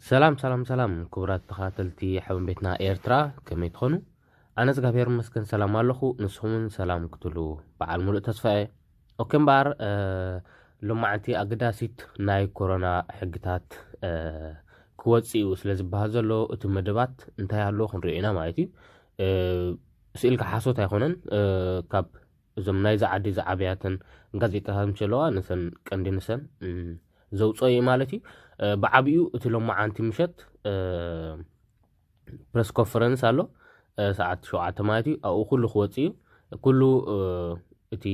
ሰላም ሰላም ሰላም ክቡራት ተኸታተልቲ ሓበን ቤትና ኤርትራ ከመይ ትኾኑ ኣነ እዝጋብሄር ይመስገን ሰላም ኣለኹ ንስኹም ውን ሰላም ክትሉ በዓል ሙሉእ ተስፋ እየ ኦኬ እምበኣር ሎማዓንቲ ኣገዳሲት ናይ ኮሮና ሕግታት ክወፅእ እዩ ስለ ዝበሃል ዘሎ እቲ መደባት እንታይ ኣሎ ክንሪኦ ኢና ማለት እዩ ስኢልካ ሓሶት ኣይኮነን ካብ እዞም ናይዚ ዓዲ ዝዓብያተን ጋዜጣታት ምሸለዋ ንሰን ቀንዲ ንሰን ዘውፅኦ እዩ ማለት እዩ ብዓብኡ እቲ ሎማዓንቲ ምሸት ፕረስ ኮንፈረንስ ኣሎ ሰዓት ሸውዓተ ማለት እዩ ኣብኡ ኩሉ ክወፅእ እዩ ኩሉ እቲ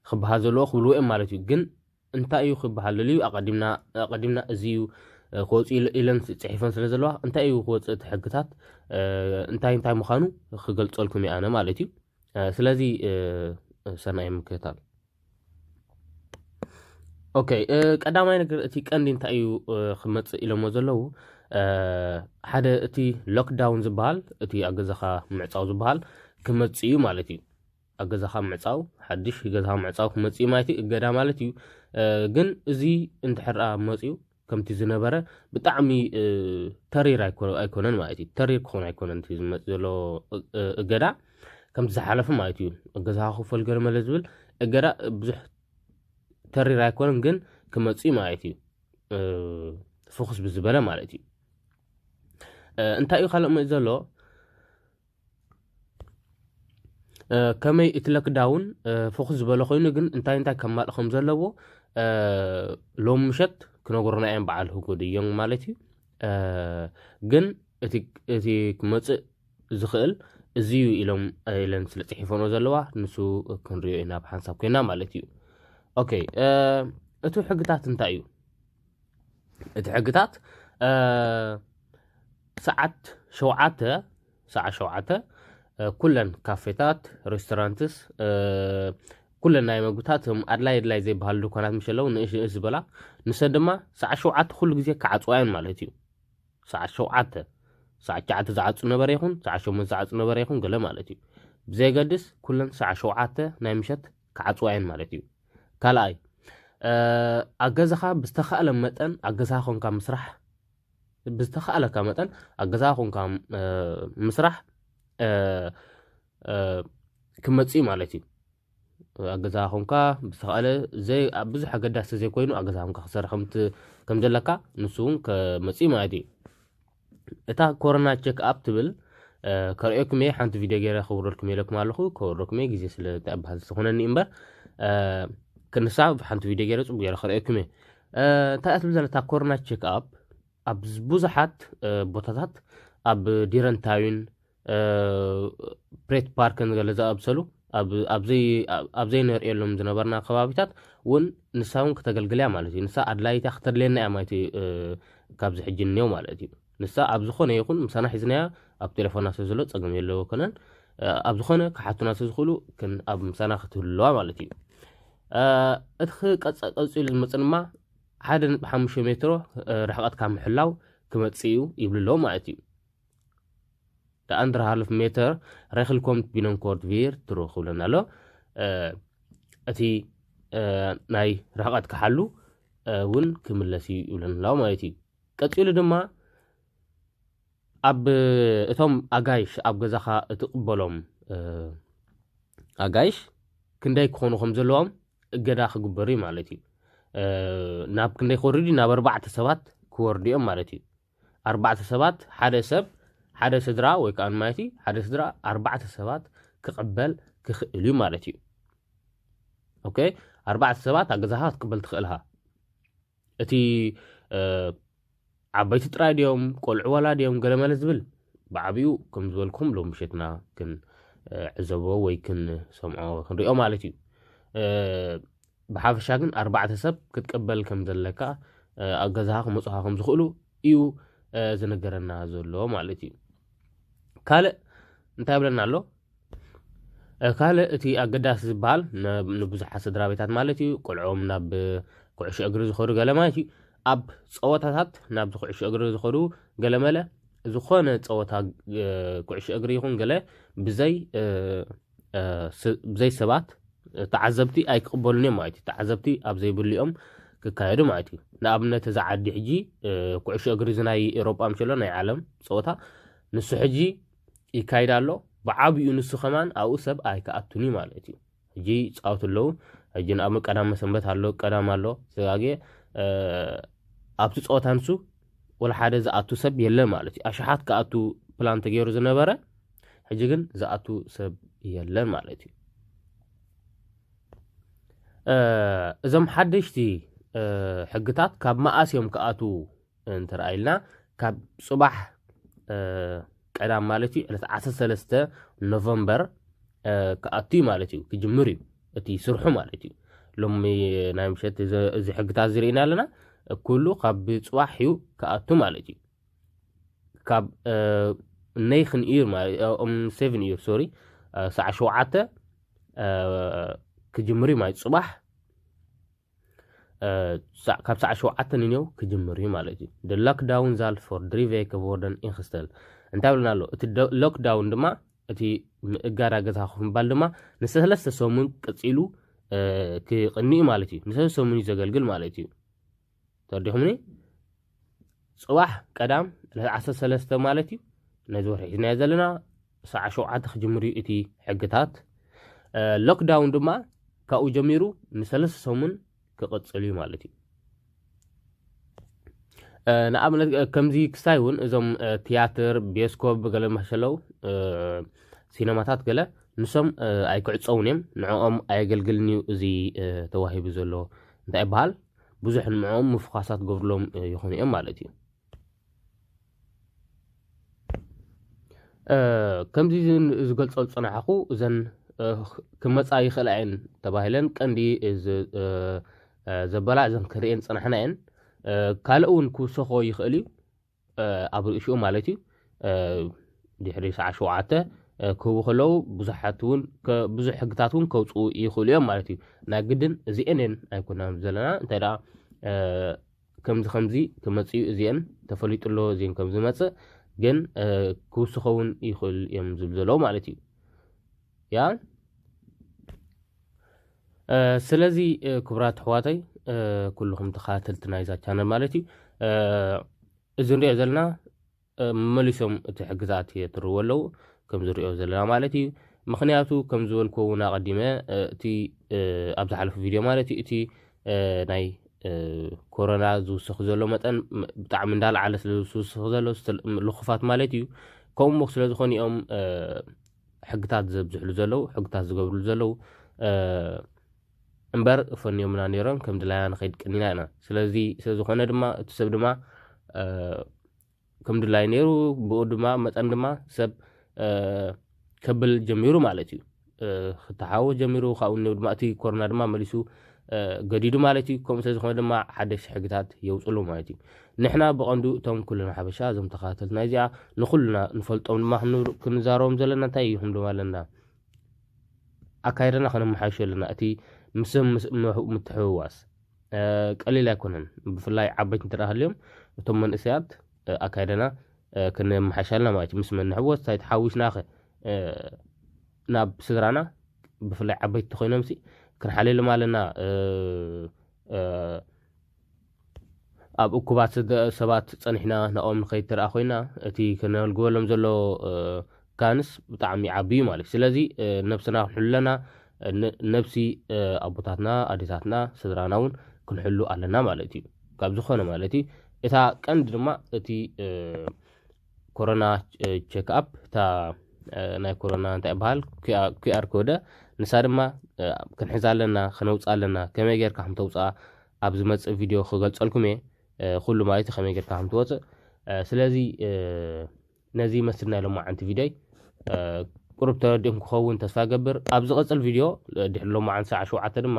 ክበሃል ዘለዎ ክብልዎ እዮም ማለት እዩ ግን እንታይ እዩ ክበሃል ደልዩ ኣቀዲምና ኣቀዲምና እዚ እዩ ክወፅ ኢለን ፅሒፈን ስለ ዘለዋ እንታይ እዩ ክወፅእ እቲ ሕግታት እንታይ እንታይ ምዃኑ ክገልፀልኩም እየ ኣነ ማለት እዩ ስለዚ ሰናይ ምክታል ኦከ ቀዳማይ ነገር እቲ ቀንዲ እንታይ እዩ ክመፅእ ኢሎሞ ዘለዉ ሓደ እቲ ሎክዳውን ዝበሃል እቲ ኣብ ገዛኻ ምዕፃው ዝበሃል ክመፅእ እዩ ማለት እዩ ኣብ ገዛኻ ምዕፃው ሓድሽ ገዛኻ ምዕፃው ክመፅእ እዩ ማለት እዩ እገዳ ማለት እዩ ግን እዚ እንድሕር መፅዩ ከምቲ ዝነበረ ብጣዕሚ ተሪር ኣይኮነን ማለት እዩ ተሪር ክኾን ኣይኮነን እቲ ዝመፅ ዘሎ እገዳ ከምቲ ዝሓለፈ ማለት እዩ እገዛ ክፈል ገለ መለ ዝብል እገዳ ብዙሕ ተሪር ኣይኮነን ግን ክመፅእ ማለት እዩ ፎኩስ ብዝበለ ማለት እዩ እንታይ እዩ ካልእ መፅ ዘሎ ከመይ እቲ ለክዳውን ፍኹስ ዝበለ ኮይኑ ግን እንታይ እንታይ ከማልእ ከም ዘለዎ ሎም ምሸት ክነገሩና እዮም በዓል ህጉድ እዮም ማለት እዩ ግን እቲ ክመፅእ ዝኽእል እዚ እዩ ኢሎም ኢለን ስለ ፅሒፈኖ ዘለዋ ንሱ ክንሪኦ ኢና ብሓንሳብ ኮይና ማለት እዩ ኦኬ እቲ ሕግታት እንታይ እዩ እቲ ሕግታት ሰዓት ሸውዓተ ሰዓት ሸውዓተ ኩለን ካፌታት ሬስቶራንትስ ኩለን ናይ መግብታት እም ኣድላይ ኣድላይ ዘይበሃሉ ድኳናት ምስ ኣለዉ ንእሽ ንእሽ ዝበላ ንሰን ድማ ሰዓት ሸውዓተ ኩሉ ግዜ ክዓፅዋ እየን ማለት እዩ ሰዓት ሸውዓተ ሰዓት ሸዓተ ዝዓፁ ነበረ ይኹን ሰዓት ሸሞንተ ዝዓፁ ነበረ ይኹን ገለ ማለት እዩ ብዘየገድስ ኩለን ሰዓት ሸውዓተ ናይ ምሸት ክዓጽዋ እየን ማለት እዩ። ካልኣይ ኣብ ገዛኻ ብዝተኻእለ መጠን ኣብ ገዛኻ ኮንካ ምስራሕ ብዝተኻእለካ መጠን ኣብ ገዛኻ ኮንካ ምስራሕ ክመፅእ እዩ ማለት እዩ። ኣብ ገዛኻ ኮንካ ብዝተኻእለ ብዙሕ ኣገዳሲ ዘይኮይኑ ኣብ ገዛኻ ኮንካ ክትሰርሕ ከምዘለካ ንሱ እውን ክመፅእ እዩ ማለት እዩ። እታ ኮሮና ቸክ ኣፕ ትብል ከርእየኩም እየ ሓንቲ ቪድዮ ገይረ ከውረድኩም ኢለኩም ኣለኹ ከውረድኩም እየ ግዜ ስለ ተባህል ዝኾነኒ እምበር ክንሳ ሓንቲ ቪድዮ ገይረ ፅቡቅ ገይረ ከርእየኩም እየ እንታይ እያ ትብል ዘላ እታ ኮሮና ቸክ ኣፕ ኣብ ብዙሓት ቦታታት ኣብ ዲረንታዊን ብሬት ፓርክን ገለ ዝኣምሰሉ ኣብ ዘይነርእየሎም ዝነበርና ከባቢታት እውን ንሳ እውን ክተገልግል እያ ማለት እዩ ንሳ ኣድላይት እያ ክተድልየና እያ ማለት እዩ ካብዚ ሕጂ እኒኦ ማለት እዩ ንሳ ኣብ ዝኾነ ይኹን ምሳና ሒዝናያ ኣብ ቴሌፎና ስለ ዘሎ ፀገም የለዎ ኮነን ኣብ ዝኾነ ክሓቱና ስለ ዝኽእሉ ኣብ ምሳና ክትህልዋ ማለት እዩ እቲ ቀፂሉ ዝመፅ ድማ ሓደ ነጥቢ ሓሙሽተ ሜትሮ ርሕቐትካ ምሕላው ክመፅእ እዩ ይብሉ ኣለዉ ማለት እዩ De anderhalf meter regel komt binnenkort weer terug ይብለና ኣሎ እቲ ናይ ርሕቐት ክሓሉ እውን ክምለስ እዩ ይብለና ማለት እዩ ቀፂሉ ድማ ኣብ እቶም ኣጋይሽ ኣብ ገዛኻ እትቕበሎም ኣጋይሽ ክንደይ ክኾኑ ከም ዘለዎም እገዳ ክግበሩ እዩ ማለት እዩ ናብ ክንደይ ክወርዱ ናብ ኣርባዕተ ሰባት ክወርዱ እዮም ማለት እዩ ኣርባዕተ ሰባት ሓደ ሰብ ሓደ ስድራ ወይ ከዓ ማለት እዩ ሓደ ስድራ ኣርባዕተ ሰባት ክቕበል ክኽእል እዩ ማለት እዩ ኦኬ ኣርባዕተ ሰባት ኣብ ገዛኻ ክትቅበል ትኽእል ኢኻ እቲ ዓበይቲ ጥራይ ድዮም ቆልዑ ዋላ ድዮም ገለመለ ዝብል ብዓብኡ ከም ዝበልኩም ሎም ምሸትና ክንዕዘቦ ወይ ክንሰምዖ ክንሪኦ ማለት እዩ ብሓፈሻ ግን ኣርባዕተ ሰብ ክትቅበል ከም ዘለካ ኣብ ገዛኻ ክመፁኻ ከም ዝኽእሉ እዩ ዝነገረና ዘሎ ማለት እዩ ካልእ እንታይ ብለና ኣሎ ካልእ እቲ ኣገዳሲ ዝበሃል ንብዙሓት ስድራ ቤታት ማለት እዩ ቆልዖም ናብ ኩዕሾ እግሪ ዝኸዱ ገለ ማለት እዩ ኣብ ፀወታታት ናብዚ ኩዕሾ እግሪ ዝኸዱ ገለመለ ዝኾነ ፀወታ ኩዕሾ እግሪ ይኹን ገለ ብዘይ ብዘይ ሰባት ተዓዘብቲ ኣይክቕበሉን እዮም ማለት እዩ። ተዓዘብቲ ኣብ ዘይብሉ እዮም ክካየዱ ማለት እዩ። ንኣብነት እዛ ዓዲ ሕጂ ኩዕሾ እግሪ እዚ ናይ ኤሮጳ ምሸሎ ናይ ዓለም ፀወታ ንሱ ሕጂ ይካይድ ኣሎ ብዓብኡ ንሱ ከማን ኣብኡ ሰብ ኣይክኣቱን እዩ ማለት እዩ ሕጂ ይፃወቱ ኣለዉ ሕጂ ንኣብነት ቀዳመ ሰንበት ኣሎ ቀዳም ኣሎ ዘጋጌ ኣብቲ ፀወታ ንሱ ወላ ሓደ ዝኣቱ ሰብ የለን ማለት እዩ። ኣሽሓት ክኣቱ ፕላን ተገይሩ ዝነበረ ሕጂ ግን ዝኣቱ ሰብ የለን ማለት እዩ። እዞም ሓደሽቲ ሕግታት ካብ መኣስ እዮም ክኣትዉ እንተረኣይልና ካብ ፅባሕ ቀዳም ማለት እዩ ዕለት ዓሰርተ ሰለስተ ኖቨምበር ክኣቱ እዩ ማለት እዩ ክጅምር እዩ እቲ ስርሑ ማለት እዩ ሎሚ ናይ ምሸት እዚ ሕግታት ዝርኢና ኣለና ኩሉ ካብ ፅባሕ እዩ ክኣቱ ማለት እዩ ካብ ነይኽን እዩ ሴቨን እዩ ሶሪ ሰዓ ሸውዓተ ክጅምር እዩ ማለት ፅባሕ ካብ ሰዓት ሸውዓተ ንኔው ክጅምር እዩ ማለት እዩ። ደ ሎክዳውን ዛልት ፎር ድሪ ቬከ ቮርደን ኢንክስተል እንታይ ብልና ኣሎ እቲ ሎክዳውን ድማ እቲ እጋዳ ገዛ ኮፍ ምባል ድማ ንሰለስተ ሰሙን ቀፂሉ ክቕኒ እዩ ማለት እዩ። ንሰለስተ ሰሙን እዩ ዘገልግል ማለት እዩ። ተወዲኹምኒ ጽባሕ ቀዳም ዕለት ዓሰርተ ሰለስተ ማለት እዩ ነዚ ወርሒ ሒዝናዮ ዘለና ሰዓ ሸውዓተ ክጅምር እዩ እቲ ሕግታት ሎክዳውን ድማ ካብኡ ጀሚሩ ንሰለስተ ሰሙን ክቕጽል እዩ ማለት እዩ ንኣብነት ከምዚ ክሳይ እውን እዞም ትያትር ቤስኮብ ገለ መሸለው ሲነማታት ገለ ንሶም ኣይክዕፀውን እዮም ንዕኦም ኣየገልግልን እዩ እዚ ተዋሂቡ ዘሎ እንታይ ይበሃል ብዙሕ ንዕኦም ምፍዃሳት ትገብርሎም ይኾኑ እዮም ማለት እዩ ከምዚ ዝገልፆ ዝፅናሕኹ እዘን ክመፃ ይኽእላ እየን ተባሂለን ቀንዲ ዘበላ እዘን ክርእየን ፅናሕና እየን ካልእ እውን ክውሰኾ ይኽእል እዩ ኣብ ርእሽኡ ማለት እዩ ድሕሪ ሰዓት ሸውዓተ ክህቡ ከለዉ ብዙሓት እውን ብዙሕ ሕግታት እውን ከውፅኡ ይኽእሉ እዮም ማለት እዩ ናይ ግድን እዚኤን እየን ኣይኮናን ዘለና እንታይ ደኣ ከምዚ ከምዚ ክመፅኡ እዚኤን ተፈሊጡ ኣሎ እዚን ከም ዝመፅእ ግን ክውስኸውን ይኽእል እዮም ዝብል ዘለዉ ማለት እዩ ያ ስለዚ ክብራት ኣሕዋተይ ኩልኹም ተኸታተልቲ ናይዛ ቻነል ማለት እዩ እዚ ንሪኦ ዘለና መሊሶም እቲ ሕጊ ዝኣት የትርዎ ኣለዉ ከም ዝሪኦ ዘለና ማለት እዩ ምክንያቱ ከም ዝበልኩ እውን ኣቐዲመ እቲ ኣብ ዝሓለፉ ቪድዮ ማለት እዩ እቲ ናይ ኮሮና ዝውስኽ ዘሎ መጠን ብጣዕሚ እንዳለዓለ ስለ ዝውስኽ ዘሎ ልኹፋት ማለት እዩ ከምኡ ስለ ዝኾኑ እዮም ሕግታት ዘብዝሕሉ ዘለው ሕግታት ዝገብርሉ ዘለው እምበር ፈንዮምና ነይሮም ከም ድላይና ንኸይድ ቀኒና ኢና ስለዚ ስለዝኾነ ድማ እቲ ሰብ ድማ ከም ድላይ ነይሩ ብኡ ድማ መጠን ድማ ሰብ ከብል ጀሚሩ ማለት እዩ ክተሓወ ጀሚሩ ካብኡ ድማ እቲ ኮሮና ድማ መሊሱ ገዲዱ ማለት እዩ ከምኡ ስለዝኾነ ድማ ሓደሽቲ ሕግታት የውፅሉ ማለት እዩ ንሕና ብቐንዱ እቶም ኩልና ሓበሻ እዞም ተኸታተልቲ ናይ እዚኣ ንኹልና ንፈልጦም ድማ ክንዛረቦም ዘለና እንታይ እዩ ክንብሎም ኣለና ኣካይዳና ከነመሓይሾ ኣለና እቲ ምስም ምትሕውዋስ ቀሊል ኣይኮነን ብፍላይ ዓበይቲ እንተ ሃልዮም እቶም መንእሰያት ኣካይዳና ክንመሓሻልና ማለት እዩ ምስ መን ንሕወስ እንታይ ተሓዊስናኸ ናብ ስድራና ብፍላይ ዓበይቲ ኮይኖምሲ ክንሓልየሎም ኣለና ኣብ እኩባት ሰባት ፀኒሕና ናብኦም ንኸይድ ተደኣ ኮይና እቲ ክነልግበሎም ዘሎ ጋንስ ብጣዕሚ ዓቢ እዩ ማለት እዩ ስለዚ ነብስና ክንሕሉ ኣለና ነብሲ ኣቦታትና ኣዴታትና ስድራና እውን ክንሕሉ ኣለና ማለት እዩ ካብ ዝኾነ ማለት እዩ እታ ቀንዲ ድማ እቲ ኮሮና ቸክ ኣፕ እታ ናይ ኮሮና እንታይ ይበሃል ኩኣር ኮደ ንሳ ድማ ክንሕዛ ኣለና ከነውፅኣ ኣለና ከመይ ጌርካ ከም ተውፅኣ ኣብ ዝመፅእ ቪድዮ ክገልፀልኩም እየ ኩሉ ማለት እዩ ከመይ ጌርካ ከም ትወፅእ ስለዚ ነዚ ይመስል ናይ ሎማዓንቲ ቪድዮይ ቁሩብ ተረዲእኩም ክኸውን ተስፋ ገብር ኣብ ዝቐፅል ቪድዮ ድሕሪ ሎማዓንቲ ሰዓ ሸውዓተ ድማ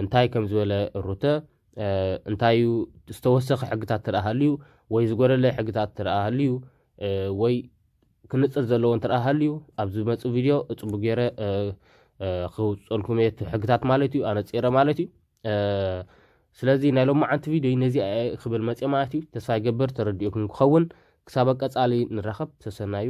እንታይ ከም ዝበለ ሩተ እንታይ እዩ ዝተወሰኸ ሕግታት ትረኣ ሃልዩ ወይ ዝጎደለ ሕግታት ትረኣ ሃልዩ ወይ ክንፅር ዘለዎ እንትረኣ ሃልዩ ኣብ ዝመፅእ ቪድዮ ፅቡቅ ገይረ ክውፀልኩም እየ ሕግታት ማለት እዩ ኣነፂረ ማለት እዩ ስለዚ ናይ ሎማዓንቲ ቪድዮ ነዚኣ ክብል መፅየ ማለት እዩ ተስፋ ይገብር ተረዲኡኩም ክኸውን ክሳብ ቀፃሊ ንራኸብ ሰሰናዩ